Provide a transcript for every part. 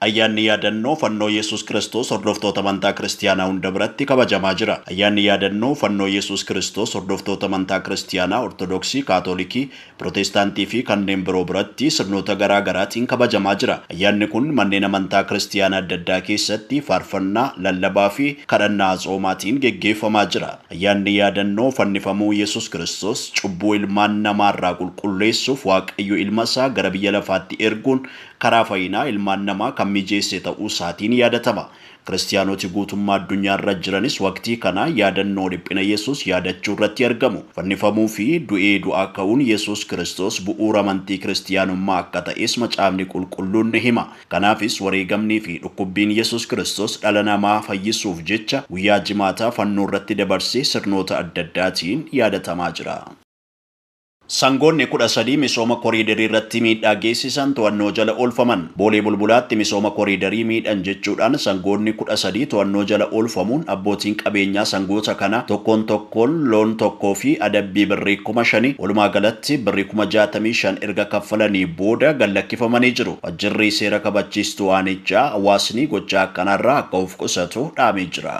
Ayyaanni Yaadannoo Fannoo Yesus Kiristoos hordoftoota amantaa Kiristiyaanaa hunda biratti kabajamaa jira. Ayyaanni Yaadannoo Fannoo Yesus Kiristoos hordoftoota amantaa Kiristiyaanaa Ortodoksii, Kaatolikii, Piroteestaantii fi kanneen biroo biratti sirnoota garaa garaatiin kabajamaa jira. Ayyaanni kun manneen amantaa Kiristiyaanaa adda addaa keessatti faarfannaa, lallabaa fi kadhannaa atsoomaatiin geggeeffamaa jira. Ayyaanni Yaadannoo Fannifamuu Yesus Kiristoos cubbuu ilmaan namaa irraa qulqulleessuuf Waaqayyo Ilma isaa gara biyya lafaatti erguun karaa fayinaa ilmaan namaa kan mijeesse ta'uu isaatiin yaadatama. Kiristiyaanoti guutummaa addunyaa irra jiranis waqtii kana yaadannoo dhiphina Yesuus yaadachuu irratti argamu. Fannifamuu fi du'ee du'aa ka'uun Yesuus Kiristoos bu'uura amantii Kiristiyaanummaa akka ta'es Macaafni Qulqulluun ni hima. Kanaafis wareegamnii fi dhukkubbiin Yesuus Kiristoos dhala namaa fayyisuuf jecha guyyaa Jimaataa fannoo irratti dabarse sirnoota adda addaatiin yaadatamaa jira. Sangoonni 13 misooma koriidariirratti miidhaa geessisan to'annoo jala oolfaman. Boolee Bulbulaatti misooma koriidarii miidhan jechuudhaan sangoonni 13 to'annoo jala oolfamuun abbootiin qabeenyaa sangoota kanaa tokkoon tokkoon loon tokkoo fi adabbii birrii kuma shanii, walumaa galatti birrii kuma 65 erga kaffalanii booda gad lakkifamanii jiru. Wajjirri seera kabachiistuu aanichaa hawaasni gochaa akkanaarraa akka of qusatu dhaamee jira.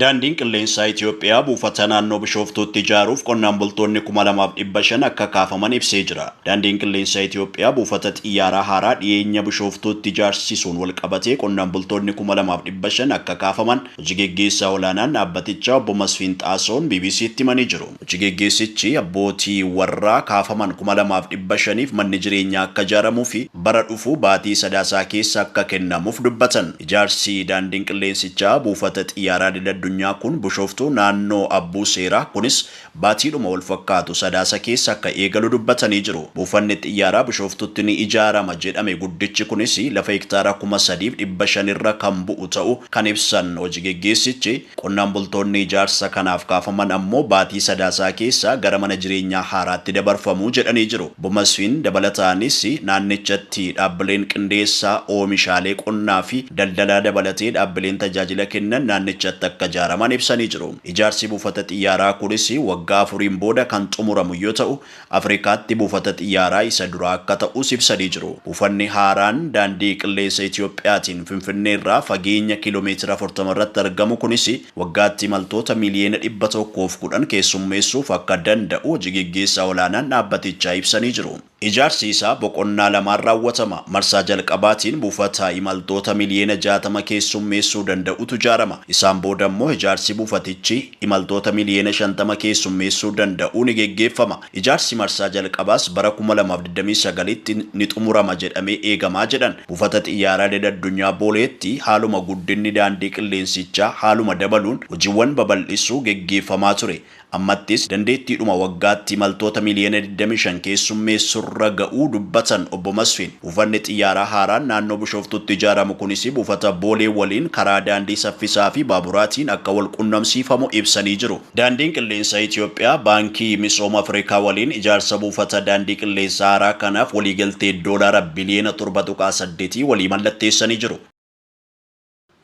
Daandiin Qilleensaa Itiyoophiyaa buufata naannoo Bishooftuutti ijaaruuf qonnaan bultoonni kuma lamaa fi dhibba shan akka kaafaman ibsee jira. Daandiin Qilleensaa Itiyoophiyaa buufata xiyyaaraa haaraa dhiyeenya Bishooftuutti ijaarsisuun walqabatee qonnaan bultoonni kuma lamaa fi dhibba shan akka kaafaman hoji geggeessaa olaanaan dhaabbatichaa obbo Masfiin Xaasahuun BBC'tti himanii jiru. Hoji geggeessichi abbootii warraa kaafaman 2500f manni jireenyaa akka ijaaramuufi bara dhufu baatii Sadaasaa keessa akka kennamuuf dubbatan. Ijaarsi daandiin qilleensichaa buufata xiyyaaraa idil addunyaa kun Bushooftuu naannoo Abbuuseeraa kunis baatiidhuma walfakkaatu Sadaasa keessa akka eegalu dubbatanii jiru. Buufanni xiyyaaraa Bushooftuutti ni ijaarama jedhame guddichi kunis lafa hektaara 3500 irra kan bu'u ta'uu kan ibsan hoji geggeessichi, Qonnaan bultoonni ijaarsa kanaaf kaafaman ammoo baatii Sadaasaa keessa gara mana jireenyaa haaraatti dabarfamu jedhanii jiru. Obbo Masfiin dabalataanis naannichatti dhaabbileen qindeessaa oomishaalee qonnaa fi daldalaa dabalatee dhaabbileen tajaajila kennan naannichatti akka ijaaraman ibsanii jiru. Ijaarsi buufata xiyyaaraa kunis waggaa afuriin booda kan xumuramu yoo ta'u, Afrikaatti buufata xiyyaaraa isa duraa akka ta'us ibsanii jiru. Buufanni haaraan Daandii Qilleensa Itoophiyaatiin Finfinneerraa fageenya kiilomeetira afurtama irratti argamu kunis waggaatti imaltoota miiliyoona dhibba tokkoo fi kudhan keessummeessuuf akka danda'u hoji geggeessaa olaanaan dhaabbatichaa ibsanii jiru. Ijaarsi isaa boqonnaa lamaan raawwatama. Marsaa jalqabaatiin buufata imaltoota miliyoona jaatama keessummeessuu danda'utu ijaarama. Isaan boodammoo ijaarsi buufatichi. imaltoota miliyoona 50 keessummeessuu danda'u ni geggeeffama. Ijaarsi marsaa jalqabaas bara 2029tti ni xumurama jedhamee eegamaa jedhan. Buufata Xiyyaaraa Idil Addunyaa Booleetti haaluma guddinni daandii qilleensichaa haaluma dabaluun hojiwwan babal'isuu geggeeffamaa ture. Ammattis dandeettiidhuma waggaatti imaltoota miliyoona 25 keessummeessurra ga'uu dubbatan Obbo Masfin. Buufanni xiyyaaraa haaraan naannoo Bishooftuutti ijaaramu kunis buufata Boolee waliin karaa daandii saffisaa fi baaburaatiin akka wal qunnamsiifamu ibsanii jiru. Daandiin Qilleensa Itiyoophiyaa Baankii Misooma Afrikaa waliin ijaarsa buufata daandii qilleensaa haaraa kanaaf waliigaltee Doolaara biliyoona 7.8 walii mallatteessanii jiru.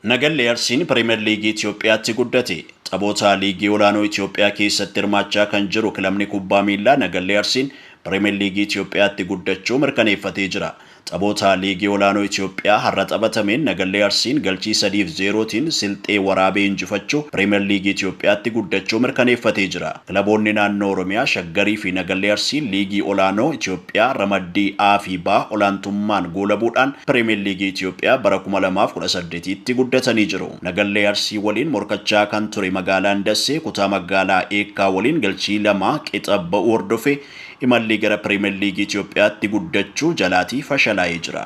Nagallee Arsiin Piriimer Liigii Itiyoophiyaatti guddate. Taphoota liigii olaanoo Itiyoophiyaa keessatti hirmaachaa kan jiru kilabni kubbaa miillaa Nagallee Arsiin Piriimer Liigii Itiyoophiyaatti guddachuu mirkaneeffatee jira. Taphoota liigii olaanoo Itiyoophiyaa har'a taphatameen Nagallee Arsiin galchii 3 fi 0 tiin Silxee Waraabee injifachuu Piriimer Liigii Itiyoophiyaatti guddachuu mirkaneeffatee jira. Kilaboonni naannoo Oromiyaa Shaggarii fi Nagallee Arsii liigii olaanoo Itiyoophiyaa ramaddii A fi B olaantummaan goolabuudhaan Piriimiyer Liigii Itiyoophiyaa bara 2018tti guddatanii jiru. Nagallee Arsii waliin morkachaa kan ture Magaalaan Dassee kutaa magaalaa Eekkaa waliin galchii 2 qixa ba'uu hordofee imallii gara Piriimiyer Liigii Itiyoophiyaatti guddachuu jalaatii fashalaa'ee jira.